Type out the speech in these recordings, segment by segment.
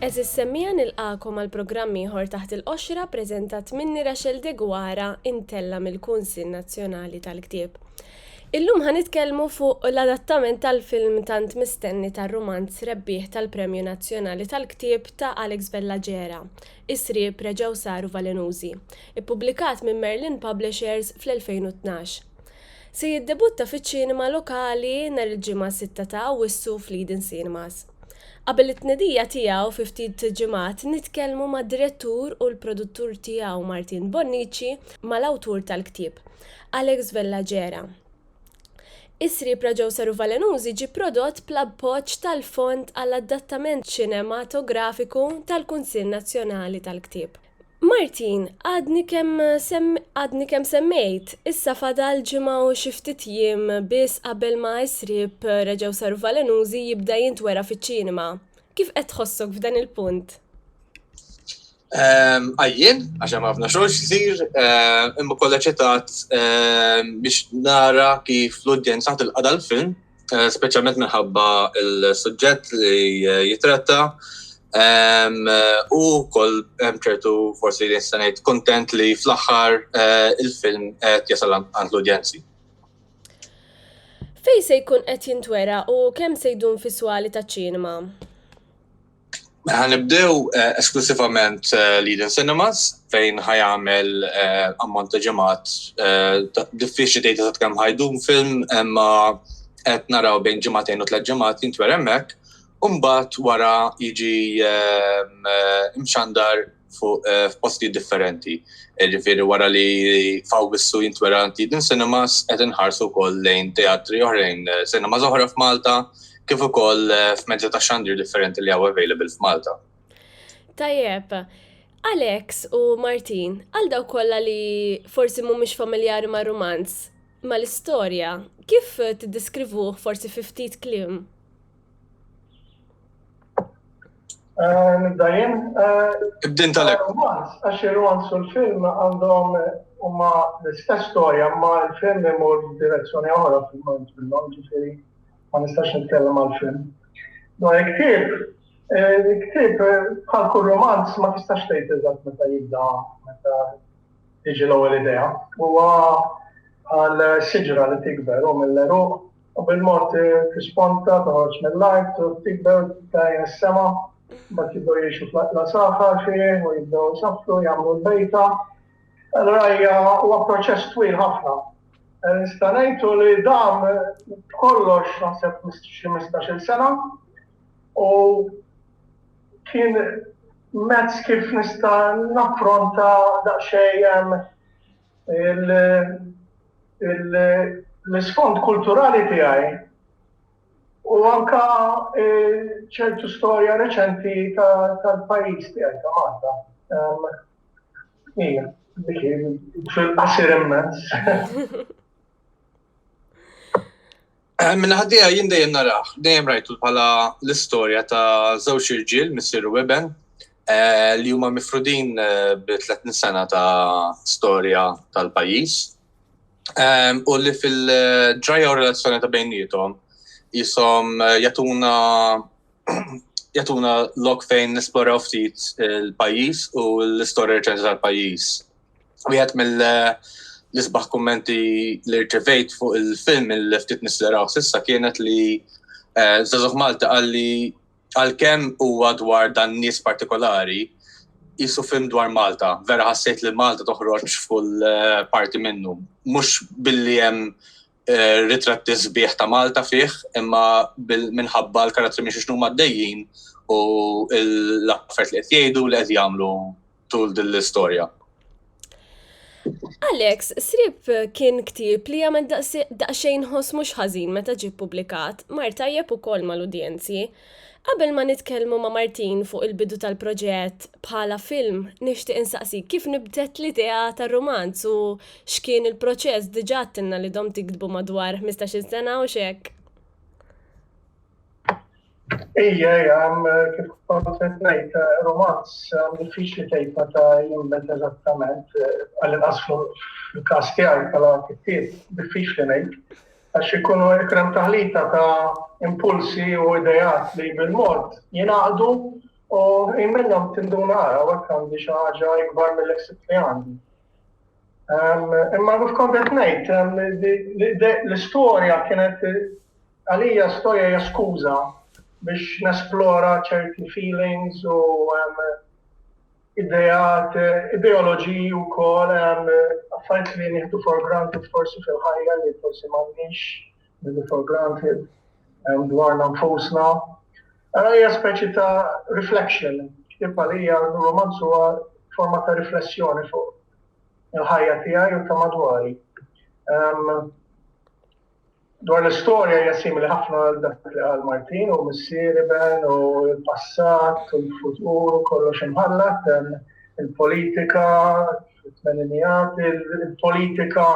Għażiż Semmija nilqagħkom għal programm ieħor taħt il-qoxra preżentat minni Rachel Degwara intella mill-Kunsill Nazzjonali tal-Ktieb. Illum ħa nitkellmu fuq l-adattament tal-film tant mistenni tar-rumanz rebbieħ tal-Premju Nazzjonali tal-Ktieb ta' Alex Bellaġera, Is-Sriep reġgħu saru valenużi, ippubblikat minn Merlin Publishers fl-2012. Se jiddebutta fiċ-ċinema lokali nhar il-Ġimgħa 6 ta' Awwissu fl-Eden Cinemas. Qabel it-tnedija tiegħu fi ftit ġimgħat nitkellmu mad-direttur u l-produttur tiegħu Martin Bonnici mal-awtur tal-ktieb. Alex Vella Gera. Is-sriep Raġew Saru Valenużi ġie prodott bl-appoġġ tal-Fond għall-Adattament Ċinematografiku tal-Kunsill Nazzjonali tal-Ktieb. Martin, għadni kemm sem, għadni kemm semmejt, issa fadal ġimgħa u xi ftit jiem biss qabel ma Is-Sriep Raġew Saru Valenużi jibda jintwera fiċ-ċinema. Kif qed tħossok f'dan il-punt? Ehm, għajjien, għax hemm ħafna xogħol xisir, ehm, imma kollha ċetat ehm, biex nara kif l-udjenza tilqa' dal-film, eh, speċjalment minħabba il-suġġett li eh, jitratta. Eh, u koll hemm ċertu forsi li nista' ngħid kontent li fl-aħħar il-film qed jasal għand l-udjenzi. Fej se jkun qed jintwera u kemm se jdun fis-swali taċ-ċinema? Ħanibdew eh, esklusivament eh, Leading Cinemas fejn ħajamel eh, ammont ta' ġemat diffiċli tgħid ta' kemm ħajdum film imma qed naraw bejn ġematejn u tliet ġemat jintwer hemmhekk. Umbat wara jiġi imxandar f'postijiet differenti. Ġifieri wara li f'Awwissu jintwera Antidin Cinemas qed inħarsu wkoll lejn teatri oħrajn, cinemas oħra f'Malta kif ukoll f'mezzi ta' xandir differenti li hawn available f'Malta. Tajjeb. Alex u Martin, għal dawk kollha li forsi mhumiex familjari mar-rumanz, mal-istorja, kif tiddiskrivuh forsi fi ftit kliem? Eh, Nibdajin. Eh, Ibdin tal-ek. Għax il-romans u l-film għandhom huma l-istess storja, ma l-film imur direzzjoni oħra fil-mont minnhom, ġifieri ma nistax nitkellem għal-film. Dwar il-ktieb, eh, il-ktieb bħal kull romanz ma tistax tgħid eżatt meta jibda meta tiġi l-ewwel idea. Huwa għal siġra li tikber u mill-eruq U bil-mod tisponta, toħroġ mill-art, trid tikber, tajn is-sema, mbagħad jibdew jgħixu fl-aqla saħħa xejn u jibdew isaffru, jagħmlu l-bejta. Allura hija huwa proċess twil ħafna. Eh, nista' ngħidu li dan kollox naħseb xi 15-il sena u kien mezz kif nista' naffronta daqsxejn l-isfond kulturali tiegħi u anka ċertu storja reċenti tal-pajjiż tiegħi ta' Malta. Ija, fil-qasir immens. Eh, Minna ħaddija jien dejjem naraħ, dejjem rajtu bħala l-istorja ta' żewġ irġiel, missiru Weben, eh, li huma mifrudin eh, bi 30 sena ta' storja tal-pajjiż. Ehm, u li fil-ġrajja u relazzjoni ta' bejnietom jisom jatuna jatuna lok fejn nesploraw ftit il-pajjiż u l-istorja reċenti tal-pajjiż. Wieħed mill-isbaħ kummenti li rċevejt fuq il-film il-ftit nis li raw sissa kienet li eh, Zazuħ Malta għalli għal-kem huwa dwar dan nies partikolari, jisu film dwar Malta, vera ħassejt li Malta toħroġ full eh, parti minnu. Mux billi jem eh, ritratti sbieħ ta' Malta fih, imma minħabba l-karattri minn xiex numa d-dejjin u l-affert li qed jgħidu li qed jagħmlu tul din l-istorja. Alex, Srib kien ktib li għamil daqxejn ħos mux ħazin meta ġi publikat, mar tajjeb u kol mal-udjenzi, Qabel ma nitkellmu ma' Martin fuq il-bidu tal-proġett bħala film nixtieq insaqsik kif nbtet l-idea tar-rumanz u x'kien il-proċess diġa għadtilna li domt tiktbu madwar ħmistax-il sena u x'hekk. Ija ija kif kont qed ngħid rumanz diffiċli tgħidha ta' jimmet eżattament għall-inqas fil-każ tiegħi bħala kittieb diffiċli ngħid. Għax ikunu ikrem taħlita ta' impulsi u ideat li bil-mod jingħaqdu u ħin minnhom tinduna ara hawnhekk għandi xi ħaġa ikbar mill ħsibt li għandi. Imma kif kont qed ngħid, l-istorja kienet għalija storja hija skuża biex nesplora ċerti feelings u ideat, ideoloġiji wkoll affarijiet li nieħdu for granted forsi fil-ħajja li forsi m'għandniex nieħdu for granted dwarna nfusna. Għara hija speċi ta' reflection, tibqa li hija romanz huwa forma ta' riflessjoni fuq il-ħajja tiegħi u ta' madwari. Dwar l-istorja hija simili ħafna għal dak li qal Martin u missieri Ben u l-passat u l-futur u kollox imħallat il-politika fit-tmeninijat, il-politika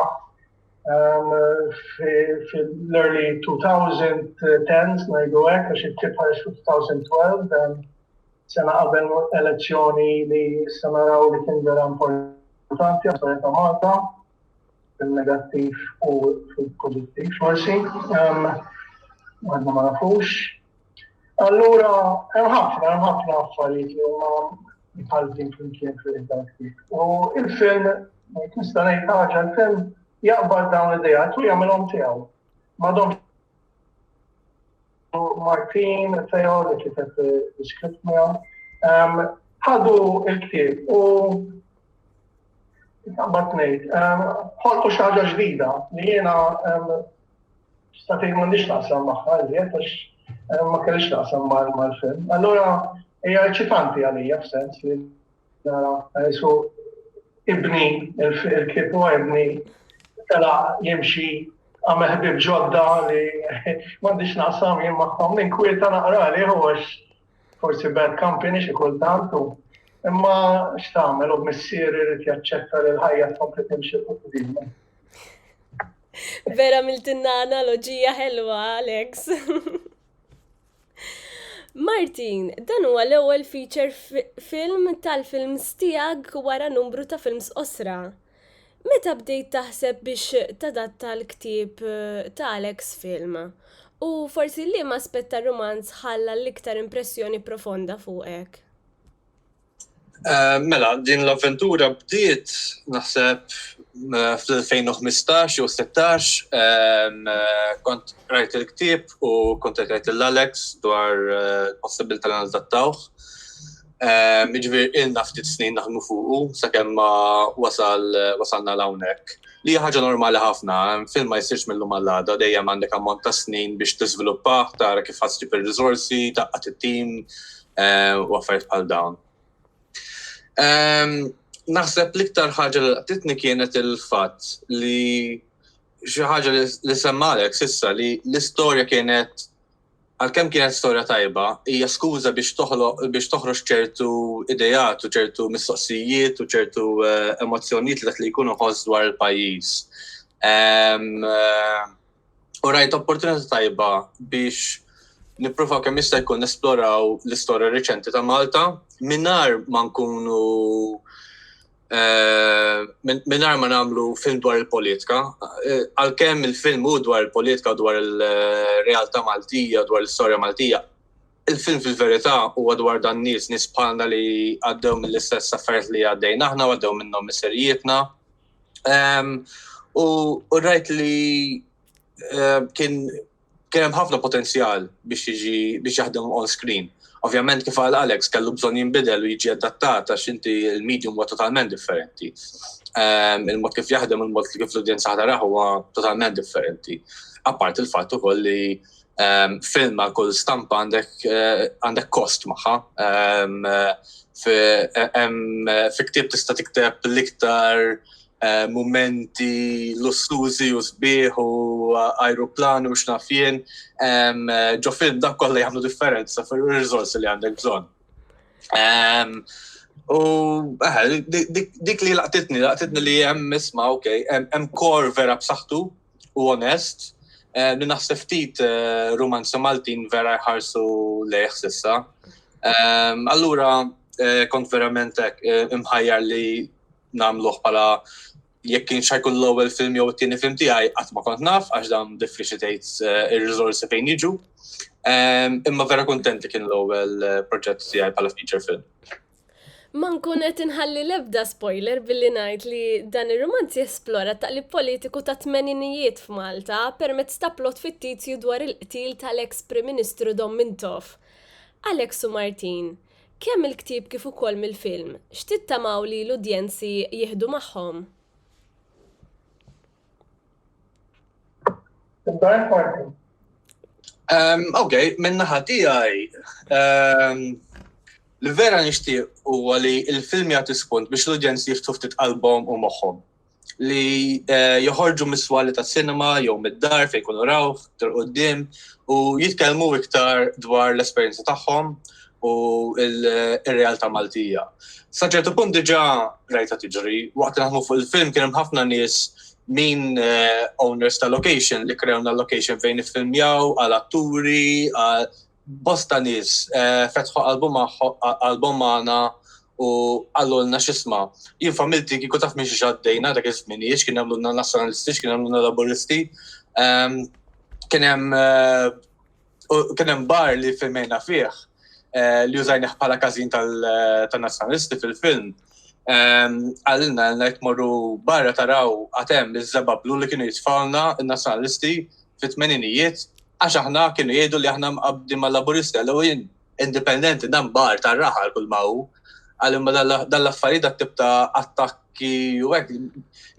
fil-early 2010s ngħidu hekk għax it-tip ħareġ fil-2012 sena qabel elezzjoni li se naraw li kien vera importanti għas-soċjetà Malta. fil-negattiv u fil-pozittiv forsi, għadna ma nafux. Allura, hemm ħafna, hemm ħafna affarijiet li huma mħaltin flimkien fil id-daktik. U il-film, nista' ngħid ħaġa l-film jaqbad dawn l-idejat u jagħmilhom tiegħu. Madhom Martin, Theo, li kiteb l-iskript miegħu, ħadu il-ktieb u Bat nejt, ħolqu xaġa ġdida li jena statejn ma nix naqsam maħħa, li għax ma kellix naqsam mal-film. Allora, hija eċitanti għalija f'sens li Ġesu ibni, il-ktieb huwa ibni, tela jimxi għamel ħbib ġodda li m'għandix naqsam jien magħhom minn kwieta naqra li għax forsi bad company xi kultant u imma x'tagħmel u missier irid jaċċetta li l-ħajja tkompli timxi fuq din. Vera miltinna analoġija ħelwa, Alex. Martin, dan huwa l-ewwel feature film tal-films tiegħek wara numru ta' films qosra. Meta bdejt taħseb biex tadatta l-ktieb eh, ta' Alex film? U forsi liema aspett tar-rumanz ħalla l-iktar impressjoni profonda fuqek? Eh, mela, din l-avventura bdiet naħseb eh, fl-2015 jew 16 eh, kont rajt il-ktib u kont rajt l-Alex dwar possibilità li nadattawh. Iġvir ilna ftit snin naħdmu fuqu sakemm ma wasal wasalna l-hawnhekk. Li ħaġa normali ħafna, film ma jsirx mill-lum għall-għada, dejjem għandek ammont ta' snin biex tiżviluppah, tara kif ħassib ir-riżorsi, taqqat it-tim, u affarijiet bħal dawn. Naħseb l-iktar ħaġa li laqtitni kienet il-fatt li xi ħaġa li semmalek sissa li l-istorja kienet għalkemm kienet storja tajba, hija skuża biex toħloq biex toħroġ ċertu idejat u ċertu mistoqsijiet u ċertu eh, emozzjonijiet li dak li jkunu ħoss dwar il-pajjiż. Eh, u rajt opportunità tajba biex nipprova kemm jista' jkun nesploraw l-istorja riċenti ta' Malta mingħajr ma nkunu eh, mingħajr ma nagħmlu film dwar il-politika. Eh, għalkemm il-film hu dwar il-politika, dwar il-realtà Maltija, dwar l-istorja Maltija, il-film fil-verità huwa dwar dan nies nies bħalna li għaddew mill-istess affarijiet li għaddejna aħna għaddew minnhom miserijietna. U rajt li kien kien hemm ħafna potenzjal biex jiġi biex jaħdem on screen. Ovvjament kif għal Alex kellu bżonn jinbidel u jiġi adattat għax inti l-medium huwa totalment differenti. Ehm, il-mod kif jaħdem, il-mod kif l-udjenza ħadaraħ huwa totalment differenti. Apart il-fatt ukoll li um, film għal kull stampa għandek eh, għandek kost maħħa. Um, fi eh, ktib tista' tikteb l-iktar eh, momenti lussużi u sbieħ u aeroplan u xnafjen, ġo film dak kollha jagħmlu differenza fir rizors li għandek bżonn. U dik li laqtitni, laqtitni li hemm isma' ok, hemm kor vera b'saħħtu u onest li naħseb ftit rumanzi Maltin vera jħarsu lejh sissa. Allura kont verament imħajjar li namluħ pala jekk kien xajkun l-ewwel film jew it-tieni film tiegħi qatt ma kont naf għax dan diffiċli tgħid eh, ir-riżorsi fejn jiġu. Ehm, imma vera kuntent li kien l-ewwel eh, proġett tiegħi bħala feature film. Ma nkun qed inħalli l-ebda spoiler billi ngħid li dan ir-rumanz jesplora t-taqlib politiku tat-tmeninijiet f'Malta permezz ta' plot fittizju dwar il-qtil tal-eks Prim Ministru Dom Mintoff. Alex u Martin, kemm mill-ktieb kif ukoll mill-film, x'tittamaw li l-udjenzi jieħdu magħhom? Um, ok, minna ħatijaj, um, li vera nishtiq u għali il-film jgħati spunt biex l-udjenz jiftu ftit album u moħħom li eh, joħorġu miswali ta' cinema jew mid-dar fejn kunu rawh, tal-qoddim u jitkellmu iktar dwar l-esperjenza tagħhom u il-realtà Maltija. Sa ċertu punt diġà rajta tiġri, waqt li naħdmu fuq il-film kien hemm ħafna nies min eh, owners ta' location li krewna location fejn iffilmjaw għal atturi, bosta nies eh, fetħu album magħna u għallulna xisma. Jien familti kiku taf minn xaddejna dak iż-żminijiet, kien għamluna nazzjonalisti, kien għamluna laboristi, ehm, kien hemm eh, U kien hemm bar li filmejna fih eh, li użajnih bħala każin tal-nazzjonalisti fil-film. Ehm, għalilna għalna jek morru barra taraw għatem li zebba blu li kienu jitfawna il-nazzjonalisti fit-tmeninijiet għax aħna kienu jgħidu li aħna mqabdi ma' laburisti għallu jien indipendenti dan bar ta' raħal kull ma' hu għallim dall-affarijiet dat tip ta' attakki u għek.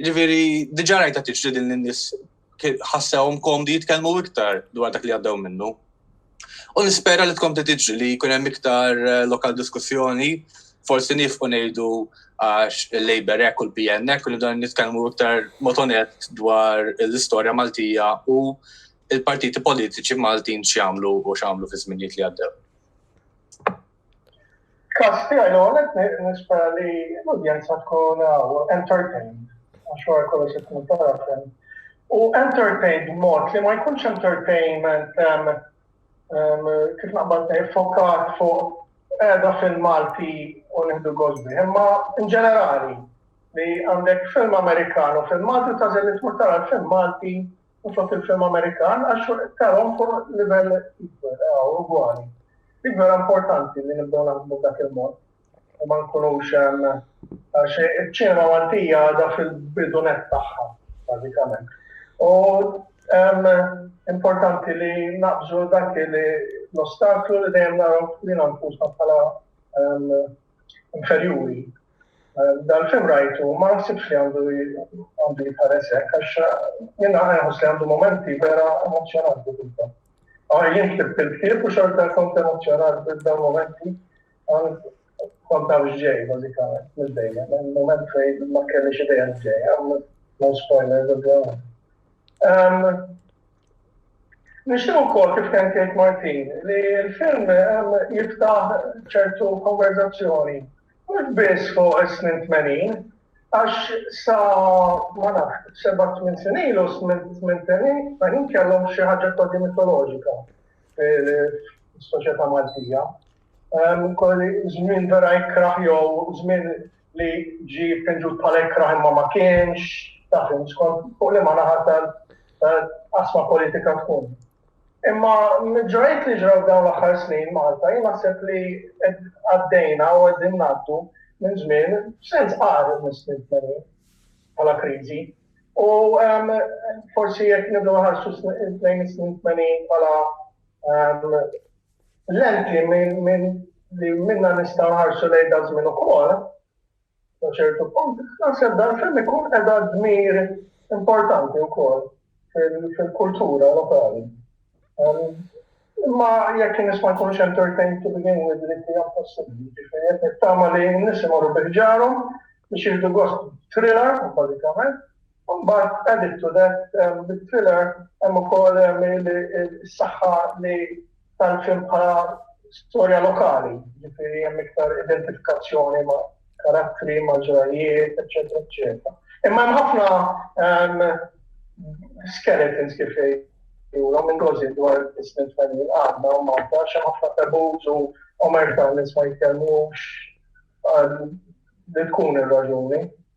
Ġifiri, diġa rajta tiġri din l-nis ħassewhom komdi jitkellmu iktar dwar dak li għaddew minnu. U nispera li tkompli tiġri li jkun hemm iktar eh, lokal diskussjoni, forsi nifqu ngħidu għax il-Labor ek u l-PN ek u dan nitkellmu iktar motonet dwar l-istorja Maltija u il-partiti politiċi Maltin x'jagħmlu u x'għamlu fi żminijiet li għaddew. Kas tiegħi l-għonet nispera li l-udjenza tkun entertained, għax wara kollox qed nittarafem. U entertained mod li ma jkunx entertainment kif naqbad fokat fuq edha fil-Malti u nħdu għozbi, imma in ġenerali li għandek film Amerikan u film Malti ta' zelli tmur tara film Malti u fost il-film Amerikan għax tarhom fuq livell ikbar eh, u ugwali. Ikbar importanti li nibdew naħdmu dak il-mod u ma nkunux għax iċ-ċinema Maltija għadha fil-bidunet tagħha, bażikament. U importanti li naqbżu dak li l-ostaklu li dejjem naraw fina nfusna bħala inferjuri. Dan film rajtu ma nsibx li għandu għandu jitħares hekk għax jien nħoss li għandu momenti vera emozzjonanti kulta. Għar jien ktibt il-ktieb u xorta kont emozzjonat b'dawn momenti kont taf ġej bażikament mill-dejja. Moment fejn ma kellix idea ġej, no spoilers of the Nixtieq ukoll, kif kien jgħid Martin, li l-film jiftaħ ċertu konverżazzjoni mhux biss fuq is-snin tmenin, għax sa ma nafx seba' tmien snin ilu s-snin tmenin kellhom xi ħaġa kważi mitoloġika fis-soċjetà Maltija. Żmien vera jkrah jew żmien li ġi pinġut bħala ikrah imma ma kienx, taf skont fuq li ma naħatal asma politika tkun. Imma ġrajt li ġraw dawn l-aħħar snin Malta, jien naħseb li għaddejna u għaddin naddu minn żmien sens qari mis-snin bħala kriżi. U forsi jekk nibdu ħarsu lejn is-snin bħala Lenti li minnha nistgħu nħarsu lejn daż-żmien ukoll, sa ċertu punt, naħseb dan film ikun qiegħda dmir importanti wkoll fil-kultura lokali. Imma jekk in-nies ma jkunux entertained to begin with li hija possibbli, ġifieri qed nittama li n-nies imorru bi ħġarhom biex jieħdu gost thriller bażikament. Imbagħad added to that bit-thriller hemm ukoll is-saħħa li ta l-film bħala storja lokali, jiġifieri hemm iktar identifikazzjoni ma' karattri, ma' ġrajjiet, eċċetera, eċċetera. Imma hemm ħafna skeletons kif jgħidulhom minn gożi dwar is-snin tfajli għadna u Malta xi ħafna tabuż u omerta nies ma jitkellmux li tkun ir-raġuni.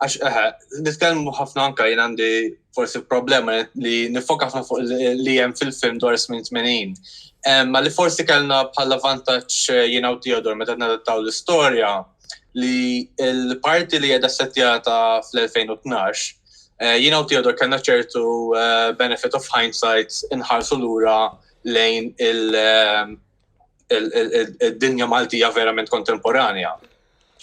Għax, eħe, nitkellmu ħafna anka jien għandi forsi problema li nifoka ħafna fuq li hemm fil-film dwar smin 80. Ma li forsi kellna bħala vantaġġ eh, jien u Theodore meta nadattaw l-istorja li l-parti li qiegħda settjata fl-2012 eh, jien u Theodore kellna ċertu eh, benefit of hindsight inħarsu lura lejn il- id-dinja Maltija verament kontemporanja.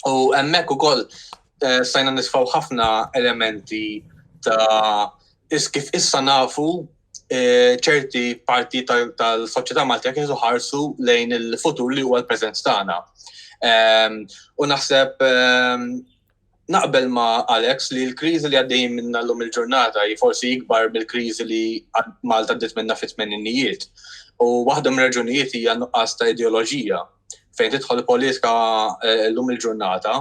U hemmhekk ukoll eh, stajna nisfaw ħafna elementi ta' is kif issa nafu eh, ċerti parti tal-soċjetà Maltija kif ħarsu lejn il-futur li huwa l-preżenz tagħna. Ehm, u naħseb ehm, Naqbel ma' Alex li l-kriżi li għaddejjin minnha llum il-ġurnata hi forsi ikbar mill-kriżi li Malta għaddiet minnha fit-tmeninijiet. U waħda mir-raġunijiet hija n-nuqqas ta' ideoloġija. Fejn tidħol il-politika eh, llum il-ġurnata,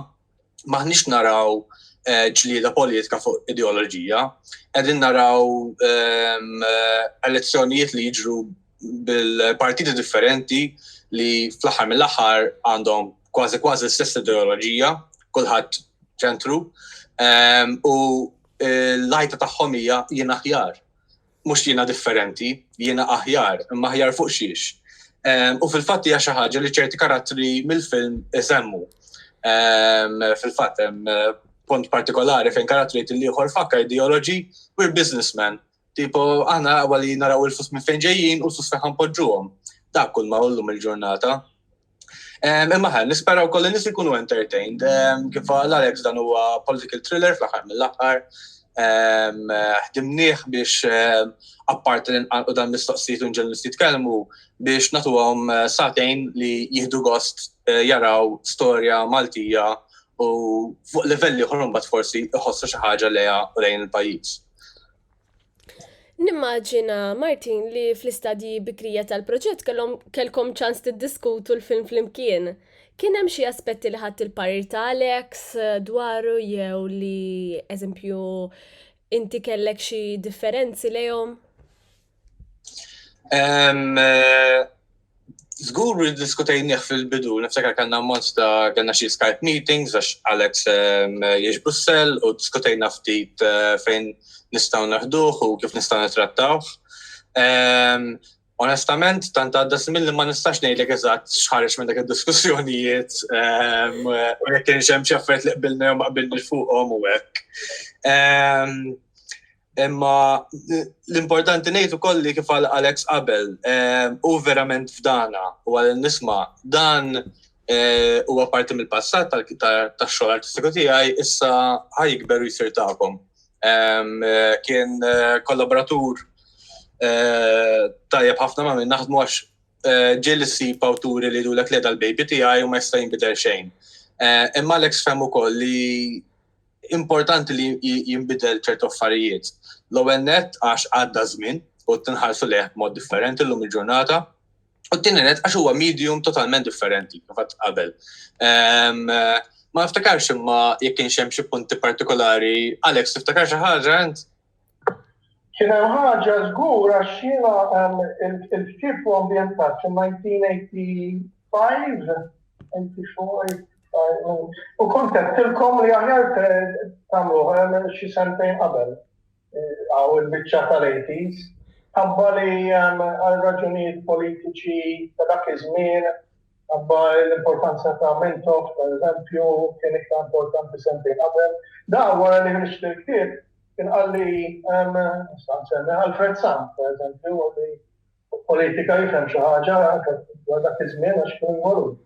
maħniex naraw eh, ġlieda politika fuq ideoloġija, qegħdin naraw ehm, eh, elezzjonijiet li jiġru bil-partiti differenti li fl-aħħar mill-aħħar għandhom kważi kważi l-istess ideoloġija, kulħadd ċentru, ehm, u eh, l-lajta tagħhom hija jien aħjar. Mhux jiena differenti, jiena aħjar, imma aħjar fuq xiex. Ehm, u fil-fatt hija xi ħaġa li ċerti karattri mill-film isemmu. Ehm, fil-fatt hemm eh, punt partikolari fejn karattri li ieħor fakka ideoloġi, we're businessmen, Tipo, aħna għawa li naraw il-flus minn fejn ġejjin u l-flus fejn ħanpoġġuhom. Dak kull ma ullum il-ġurnata. Imma ħan, nisperaw koll nis ikunu entertained. Kif għal Alex dan huwa political thriller fl-aħħar mill-aħħar. Ħdimnieh biex appart li nqanqu dan mistoqsijiet u nġellu jitkellmu biex natuhom eh, satejn li jihdu gost eh, jaraw storja Maltija u fuq livelli ħorum bat forsi iħossu xi ħaġa leja u lejn il-pajjiż. Nimmaġina, Martin, li fl-istadji bikrija tal-proġett kellkom ċans tiddiskutu l-film flimkien. Kien hemm xi aspetti li ħadd il-parir ta' Alex eh, dwaru jew li, eżempju, inti kellek xi differenzi lejhom? Zgur li diskutejnieh fil-bidu, niftakar kanna monsta kanna xie Skype meetings għax Alex ehm, jiex Brussel u diskutejna ftit eh, fejn nistaw naħduh u kif nistaw nitrattawh. Ehm, onestament, tant għadda smin li ma nistax ngħidlek eżatt xħarġ minn dak id-diskussjonijiet ehm, u jekk kienx hemm xi affarijiet li qbilna jew ma qbilni fuqhom u hekk. Imma l-importanti ngħid ukoll li kif għal Alex qabel, eh, u verament fdana u għal nisma' dan eh, huwa parti mill-passat tax-xogħol artistiku tiegħi issa ħajkber u jsir tagħkom. Eh, kien kollaboratur tajjeb ħafna ma' minn naħdmu għax ġiel issib awturi li jidulek li l-baby tiegħi u ma jista' jinbidel xejn. Imma Alex fem ukoll li Importanti li jinbidel ċertu affarijiet. L-ewwel nett għax għadda żmien u tinħarsu lejh b'mod differenti llum il-ġurnata. U t-tieni nett għax huwa medium totalment differenti kif qatt qabel. Ehm, ma niftakarx imma jekk kienx hemm xi punti partikolari. Alex, tiftakar xi ħaġa int? Kien hemm ħaġa żgur għax jiena il-ktieb u ambjentat fil-1985 u kont għedtilkom li aħjar tagħmluh xi sentejn qabel għaw il-biċċa tal-80s. Ħabba li għal raġunijiet politiċi ta' dak iż-żmien Imma l-importanza ta' Mintoff, per eżempju, kien iktar importanti sentejn qabel. Da wara li ħriġt il-ktieb, kien qalli, nista' nsemmi Alfred Sant, per eżempju, li fuq politika jifhem xi ħaġa dwar dak iż-żmien għax kien involut.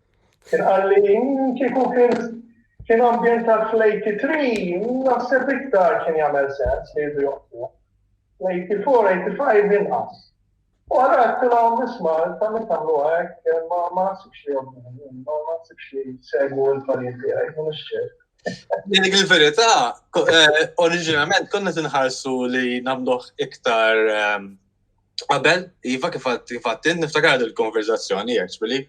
Kien qalli kieku kien kien ambjentat fl-83, naħseb iktar kien jagħmel sens li jridu joqtluh. L-84, 85 inqas. U għedtilhom, isma', intom jekk tagħmluha hekk, ma naħsibx li jogħġobhom, ma naħsibx li jsegwu l-parir tiegħi, mhux ċert. Li dik il-verità, eh, oriġinament konna tinħarsu li namluħ iktar ehm, qabel, iva kif għattin, niftakar il-konverzazzjoni, actually.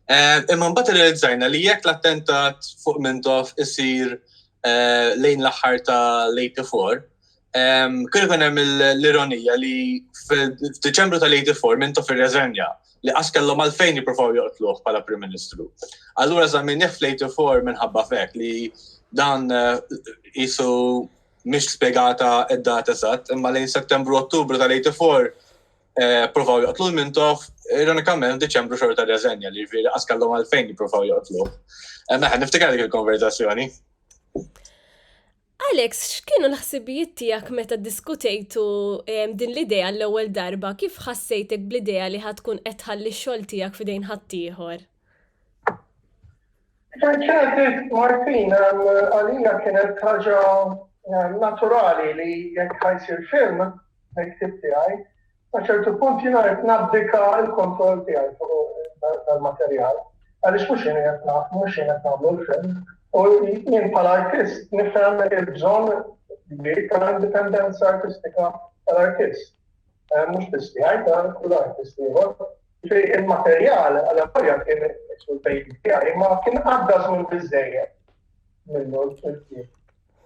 Eh, imma mbagħad realizzajna li jekk l-attentat fuq Mintoff isir eh, lejn l-aħħar ta' l-84, Kien ikun hemm l-ironija li f'Diċembru tal-84 minn tof ir-reżenja li qas kellhom għalfejn jippruvaw joqtluh bħala Prim Ministru. Allura żamminni fl-84 minħabba fek li dan eh, jisu mhix spjegata id-dat eżatt, imma lejn Settembru Ottubru tal-84 eh, provaw joqtlu l-mintof, ironikament Deċembru xorta tal-reżenja li ġifieri qas kellhom għalfejn jippruvaw joqtluh. Eh, Meħan niftikar dik il-konverzazzjoni. Alex, x'kienu l-ħsibijiet tiegħek meta ddiskutejtu din l-idea għall-ewwel darba? Kif ħassejtek bl-idea li ħa tkun qed tħalli x-xogħol tiegħek f'idejn ħaddieħor? Kif għidt Martin, għalija kienet ħaġa naturali li jekk ħa jsir film mill-ktieb tiegħi, Sa ċertu punt jiena qed nabdika l-kontroll tiegħi fuq dal-materjal għaliex mhux jien qed naf, mhux jien qed nagħmlu l-film. U jien bħala artist nifhem il-bżonn kbir tal-indipendenza artistika tal-artist. Eh, mhux biss tiegħi ta' kull artist ieħor. Il-materjal għal appoġġja kien sul-pejjiż tiegħi ma kien għadda żmien biżejjed minnu l-film.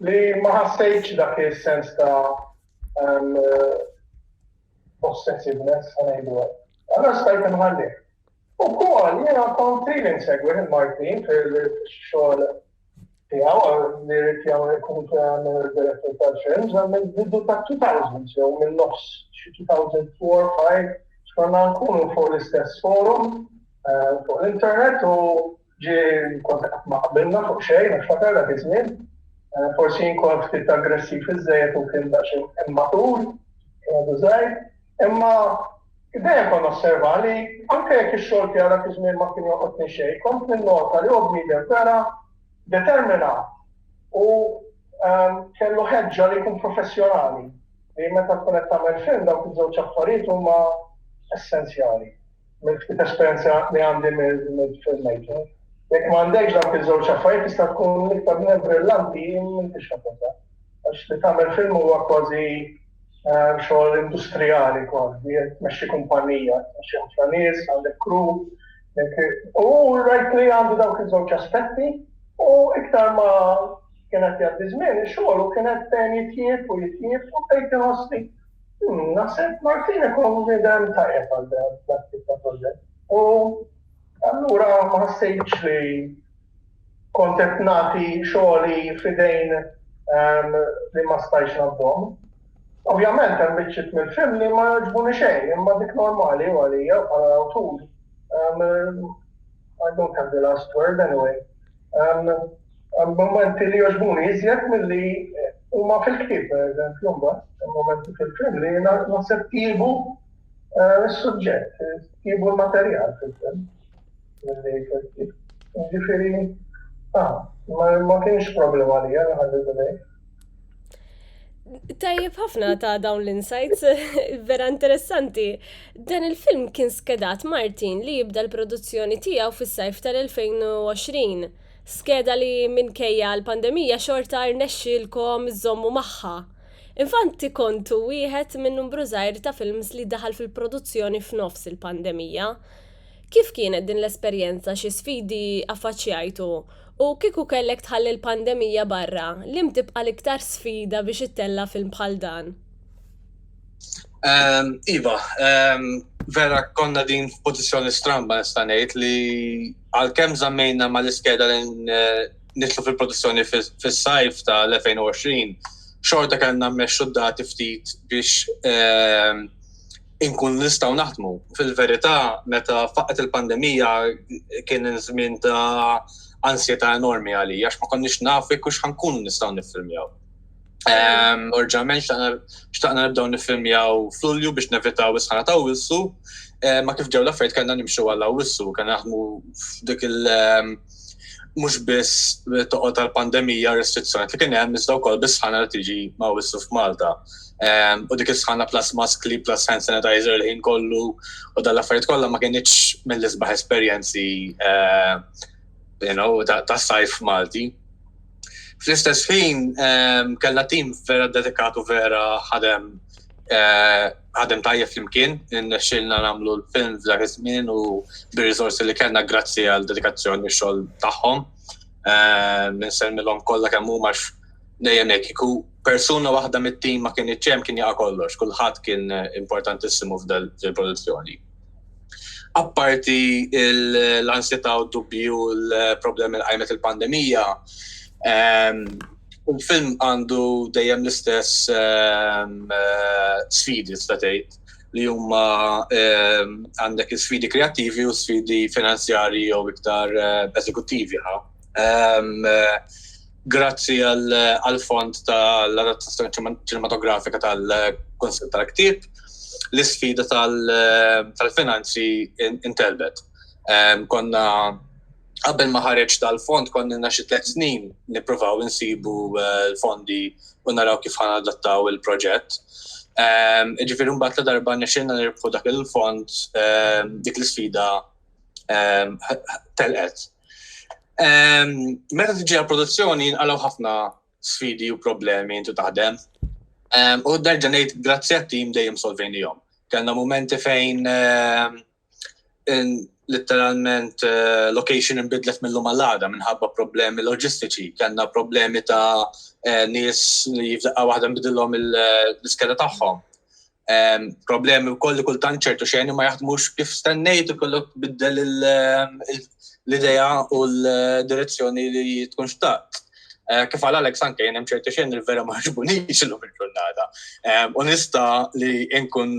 Li ma ħassejtx dak is-sens ta' possessiveness ta' ngħidu hekk. Allora stajt inħalli. Ukoll jiena kont li insegwi lil Martin fil-xogħol tiegħu li rrid jagħmel ikun direttur tal-films għamel bidu ta' 2000 jew minn nofs 2004-5 xkonna nkunu fuq l-istess forum fuq l-internet u Ġie kont qed ma qbilna fuq xejn għax fatar dak iż-żmien. Forsi jien kont ftit aggressiv iżżejjed u kien daqsxejn immatur, kien għadu żgħir. Imma dejjem kont nosserva li anke jekk ix-xogħol tiegħu dak iż-żmien ma kien jolqotni xejn, kont ninnota li huwa bniedem vera determinat u kellu ħeġġa li jkun professjonali. Li meta tkun qed tagħmel film dawk iż-żewġ affarijiet huma essenzjali. Minn ftit esperjenza li għandi mill-filmmaking, jekk ma għandekx dawk iż-żewġ affarijiet tista' tkun l-iktar minn brillanti m'intix ħabbata. Għax li tagħmel film huwa kważi eh, xogħol industrijali kważi, tmexxi kumpanija, tmexxi ħafna nies, għandek kru. U rajt li għandu dawk iż-żewġ aspetti u iktar ma kienet jgħaddi żmien, ix-xogħol u kienet dejjem jitjieb u jitjieb u bdejt inħossni Naħseb Martin ikun idem tajjeb għal dak tip ta' proġett. U allura ma ħassejtx li kont qed nagħti xogħli f'idejn ehm, li ma stajx nabdhom. Ovvjament hemm biċċiet mill-film li ma jogħġbuni xejn, imma dik normali u għalija bħala awtur. Um, I don't have the last word anyway. Um, Mumenti li jogħġbuni iżjed milli huma fil-ktieb, pereżempju, mbagħad hemm mumenti fil-film li naħseb tjiebu s-suġġett, tjiebu l-materjal fil-film milli fil-ktieb. Jiġifieri, ma kienx problema għalija li ħalli dil-għid. Tajjeb ħafna ta' dawn l-insights, vera interessanti. Dan il-film kien skedat Martin li jibda l-produzzjoni tiegħu fis-sajf tal-2020. Skeda li minkejja l-pandemija xorta rnexxielkom żżommu magħha. Infanti kontu wieħed minn numbru żgħir ta' films li daħal fil-produzzjoni f'nofs il-pandemija. Kif kienet din l-esperjenza, xi sfidi affaċċjajtu, u kieku kellek tħalli l-pandemija barra, liem tibqa' l-iktar sfida biex ittella' film bħal dan? Ehm, iva, ehm, vera konna din f'pożizzjoni stramba nista' ngħid li għalkemm żammejna mal-iskeda li eh, nitlu fil-produzzjoni fis-sajf ta' l-2020, xorta kellna mmexxu dati ftit biex ehm, inkun nistgħu naħdmu. Fil-verità, meta faqet il-pandemija kien żmien ta' ansjeta enormi għalija, għax ma konniex nafu kux ħankunu nistgħu niffilmjaw. Orġament xtaqna nibdaw nifilmjaw f'Lulju biex nevitaw is-sħana ta' wissu, ma kif ġew l-affarijiet kellna nimxu għal wissu, kellna naħdmu f'dik il- mhux biss toqgħod tal-pandemija restrizzjoni li kien hemm iżda wkoll bis-sħana li tiġi ma' wissu f'Malta. U dik is-sħana plus maskli plus hand sanitizer l-ħin kollu u dan l-affarijiet kollha ma kienitx mill-isbaħ esperjenzi ta' sajf Malti. Fl-istess ħin kellna tim vera dedikatu vera ħadem ħadem tajjeb flimkien, nexxilna nagħmlu l-film f'dak iż-żmien u bir-riżorsi li kellna grazzi għal dedikazzjoni xogħol tagħhom. Nsellmilhom kollha kemm huma dejjem hekk iku persuna waħda mit-tim ma kien iċċem kien jaqa' kollox, kulħadd kien importantissimu f'dil-produzzjoni. apparti l-ansjetà u d-dubji u l-problemi li qajmet il-pandemija, ehm, il-film għandu dejjem l-istess ehm, eh, sfidi statejt li huma ehm, għandek sfidi kreattivi u sfidi finanzjari jew iktar eh, eżekuttivi. Eh, Grazzi għall-fond tal-adattazzjoni ċinematografika tal-Kunsill tal-Ktieb, l-isfida tal-finanzi intelbet. Konna qabel ma ħareġ tal-fond konna xi tliet snin nippruvaw insibu eh, l-fondi u naraw kif ħana adattaw il-proġett. Ehm, Ġifieri mbagħad ta' darba nexxinna nirbħu dak il-fond ehm, dik l-isfida ehm, telqet. Ehm, meta tiġi għal produzzjoni jinqalgħu ħafna sfidi u problemi intu taħdem. Ehm, u nerġa' ngħid grazzi għat-tim dejjem solvejnihom. Kellna momenti fejn ehm, literalment eh, location imbidlet mill-lum għal-għada minħabba problemi loġistiċi, kellna problemi ta' eh, nies li jifdaqqa waħda nbidilhom eh, l-iskeda tagħhom. problemi u koll kultant ċertu xejn ma jaħdmux kif stennejt u kollok biddel l-ideja u l-direzzjoni li tkun xtaqt. Eh, kif għal Alex anke jenem ċertu xejn il-vera maġbuni xillu fil-ġurnata. U nista li nkun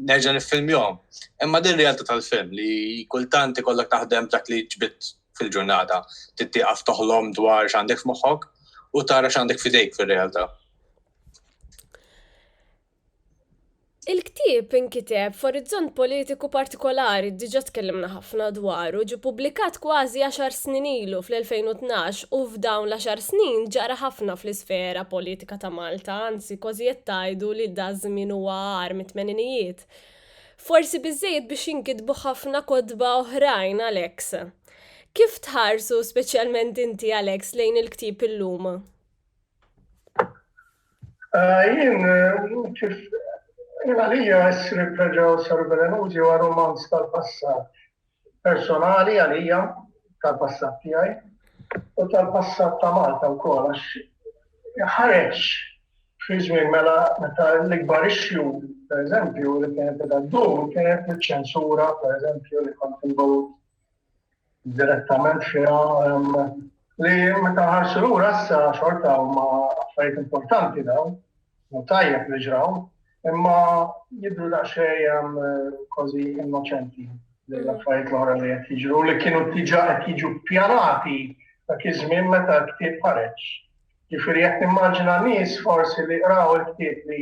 nerġa nifilmjom. Imma din realtà tal-film li kultant ikollok taħdem dak li ġbit fil-ġurnata. Tittiqaf toħlom dwar x'għandek f'moħħok u tara x'għandek fidejk fil-realtà. Il-ktieb inkiteb f'orizzont politiku partikolari, diġà tkellimna ħafna dwaru, ġie pubblikat kważi għaxar snin ilu, fl-2012, u f'dawn l-għaxar snin ġara ħafna fl-isfera politika ta' Malta, anzi kważi qed tgħidu li daż-żmien huwa agħar mit-tmeninijiet. Forsi biżżejjed biex jinkitbu ħafna kotba oħrajn, Alex. Kif tħarsu, speċjalment inti, Alex, lejn il-ktieb illum? Ah, jien, kif għalija essri preġaw saru belenuti u romanz tal-passat personali għalija tal-passat tijaj u tal-passat ta' Malta u kol għax ħareġ fi żmien mela meta l-ikbar issue, per eżempju, li kienet għaddu, kienet ċensura, per eżempju, li kont involut direttament fiha li meta ħarsu lura issa xorta huma affarijiet importanti dawn, u tajjeb li ġraw, imma jidru daqsxejn kważi innoċenti l-affarijiet l-oħra li qed jiġru li kienu diġà qed jiġu pjanati ta' iż-żmien meta l-ktieb ħareġ. Ġifieri qed nimmaġina nies forsi li qraw il-ktieb li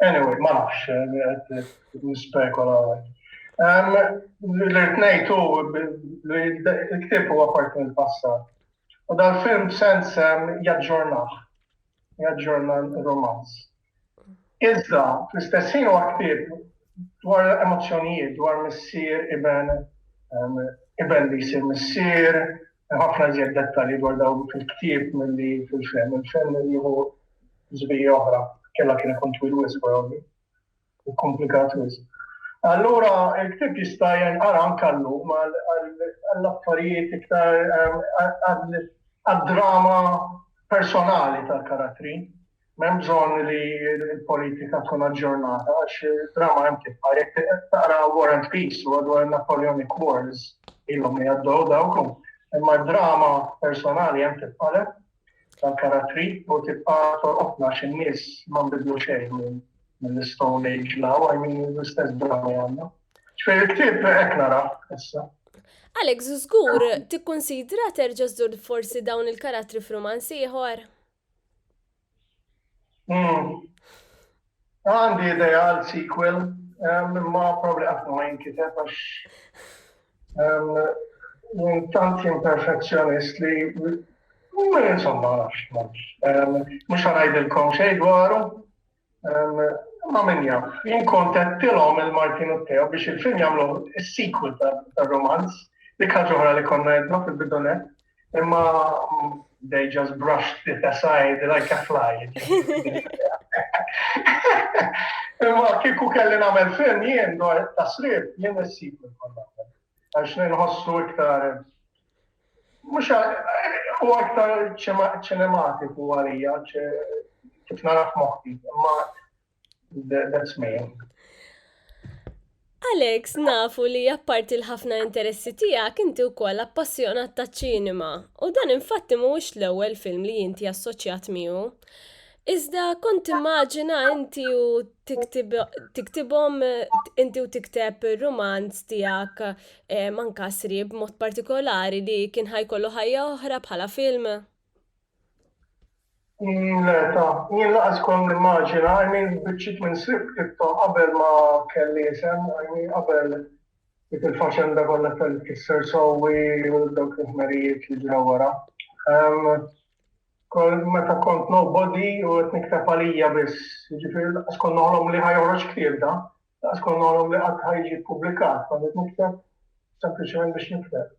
Anyway, ma nafx, nispekola għaj. L-irtnejtu l-ktib huwa parti mill-passat. U dal-film sens jaġġornaħ, jaġġorna l-romanz. Iżda, fl-istess ħin huwa ktib dwar emozzjonijiet, dwar missier, iben, iben li jsir missier, Hemm ħafna iżjed dettalji dwar dawn fil-ktieb milli fil-film. Il-film jieħu żbija oħra, kellha kien ikun twil wisq probabbli u komplikat wisq. Allura il-ktieb jista' jinqara anke llum għall-affarijiet iktar għad-drama personali tal-karattri. M'hemm bżonn li l-politika tkun aġġornata għax id-drama hemm tibqa'. Jekk taqra War and Peace huwa dwar in-Napoleonic Wars ilhom li għaddew dawk u imma d-drama personali hemm tibqa' le tal-karattri u tibqa' tolqotna għax in-nies ma nbidlu xejn mill-Stone Age law, I mean l-istess drama għandna. Ġifieri l-ktieb hekk nara issa. Alex, żgur tikkunsidra terġa' żżur forsi dawn il-karattri f'rumanz ieħor? Hmm. Għandi ideja għal sequel, ma probabli għafna ma jinkiteb għax tant imperfezzjonist li insomma għax mux għanajdilkom xej dwaru. Ma min jaf, jien kont għedtilhom il-Martin u Teo biex il-film jagħmlu s-sequel tar-romanz, dik ħaġa oħra li konna għedna fil-bidunet, imma they just brushed it aside like a fly. Imma kiku kelli namel film jien dwar tasrib, jien s-sequel konna. Għax nħossu iktar Mhux huwa iktar ċinematiku għalija kif nara f'moħħi, imma that's me. Alex, nafu li apparti l-ħafna interessi tiegħek inti wkoll appassjonat ta' ċinema u dan infatti mhuwiex l-ewwel film li inti assoċjat miegħu. Iżda kont immaġina inti u tiktibhom inti u tikteb romanz tiegħek Hemm anka sriep b'mod partikolari li kien ħa jkollu ħajja oħra bħala film? Le ta. Jien laqas kont nimmaġina, I mean biċċiet minn sriep qidthom qabel ma kelli isem, I mean qabel dik il-faċenda kollha tal-kisser sewwi u dawk il-ħmerijiet li ġraw wara. Kont meta kont nobody u qed nikteb għalija biss, jiġifieri laqas kont noħlom li ħa joħroġ ktieb da. Daqs konna għalhom li qatt ħa jiġi ppubblikat, konniet nikteb sempliċement biex nikteb.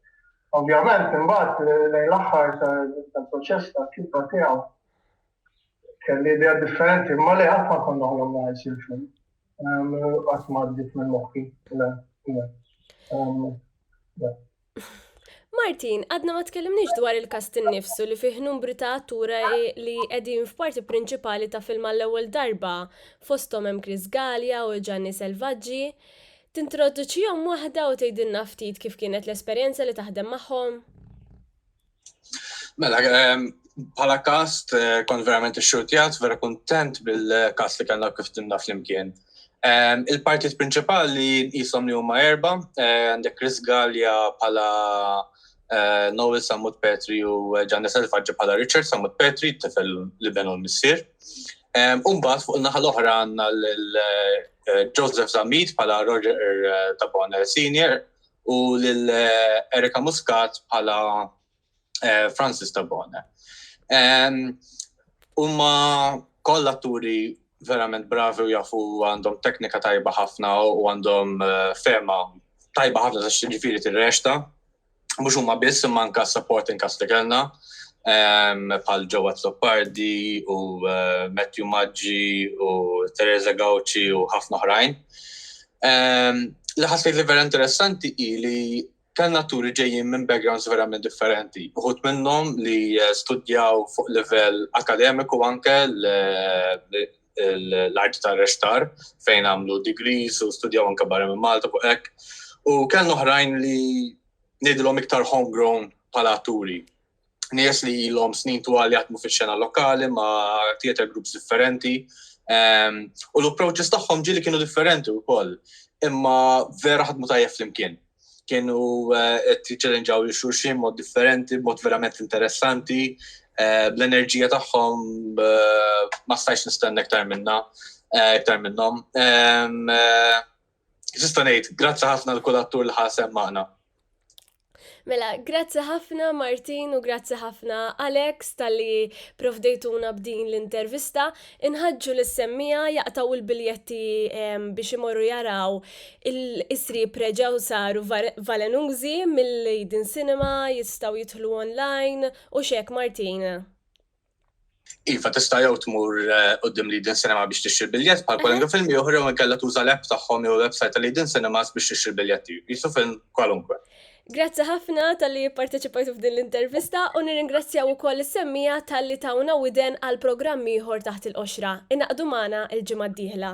Ovvjament, imbagħad lejn l-aħħar tal-proċess tal-kitba tiegħu kelli idea differenti, imma li qatt ma konna għalhom li ħajsir film. Qatt ma għaddit minn moħħi. Martin, għadna ma tkellimniex dwar il-kast innifsu li fih numri ta' attura li qegħdin f'parti prinċipali ta' film għall-ewwel darba, fosthom hemm Chris Gallia u Gianni Selvaggi. Tintroduċihom waħda u tgħidilna ftit kif kienet l-esperjenza li taħdem magħhom? Mela, bħala kast, eh, kont verament ixxurtjat, vera kontent bil-kast li kellna kif timna flimkien. Il-partit prinċipali jisom li huma erba, eh, għandek Chris Gallia bħala eh, Noel Samut Petri u Gianni Selfaġġi bħala Richard Samut Petri, tifel li benu l-missir. Umbat fuq il-naħa l-oħra għanna l-Joseph Zamit bħala Roger Tabone Senior, u lil Erika Muscat bħala eh, Francis Tabone. Umma koll atturi verament bravi u jafu għandhom teknika tajba ħafna u għandhom eh, fema tajba ħafna ta' xġifiri t-rexta. Mux umma biss imma anka supporting cast li kellna bħal Joe Azzopardi u eh, Matthew Maggi u Teresa Gauci u ħafna oħrajn. Ehm, li ħassejt li vera interessanti hi li kellna turi ġejjin minn backgrounds verament differenti. Uħut minnhom li eh, studjaw fuq livell akademiku anke l-art ta' rextar fejn għamlu degrees u studjaw anke barra minn Malta fuq hekk. U kellna oħrajn li nidilhom iktar homegrown pala turi. nies li ilhom snin twal jaħdmu fix-xena lokali ma' theater groups differenti. Ehm, u l-approaches tagħhom ġili kienu differenti wkoll, imma vera ħadmu tajjeb flimkien. Kienu eh, qed jiċċelenġaw li xulxin mod differenti, mod verament interessanti, eh, bl-enerġija tagħhom eh, ma stajx nistenna iktar minna, iktar minnhom. Ehm, Sista ngħid, grazzi ħafna l-kull attur li ħasem magħna. Mela, grazzi ħafna Martin u grazzi ħafna Alex tal-li provdejtuna b'din l-intervista. Inħadġu l-semmija jaqtaw il-biljetti biex imorru jaraw il-isri preġaw saru valenużi mill-Leiden Cinema jistaw jitħlu online u xek Martin. Iva, tista' jew tmur eh, qudiem li din sinema biex tixtri biljett bħal kwalunkwe film ieħor jew inkella tuża l-app tagħhom jew website li din cinemas biex tixtri biljetti. Jisu film kwalunkwe. Grazzi ħafna tal-li parteċipajtu f'din l-intervista u nirringrazzjaw ukoll is-semmija tal-li tawna widen għal programm ieħor taħt il-qoxra. Inaqdu magħna il-ġimgħa d-dieħla.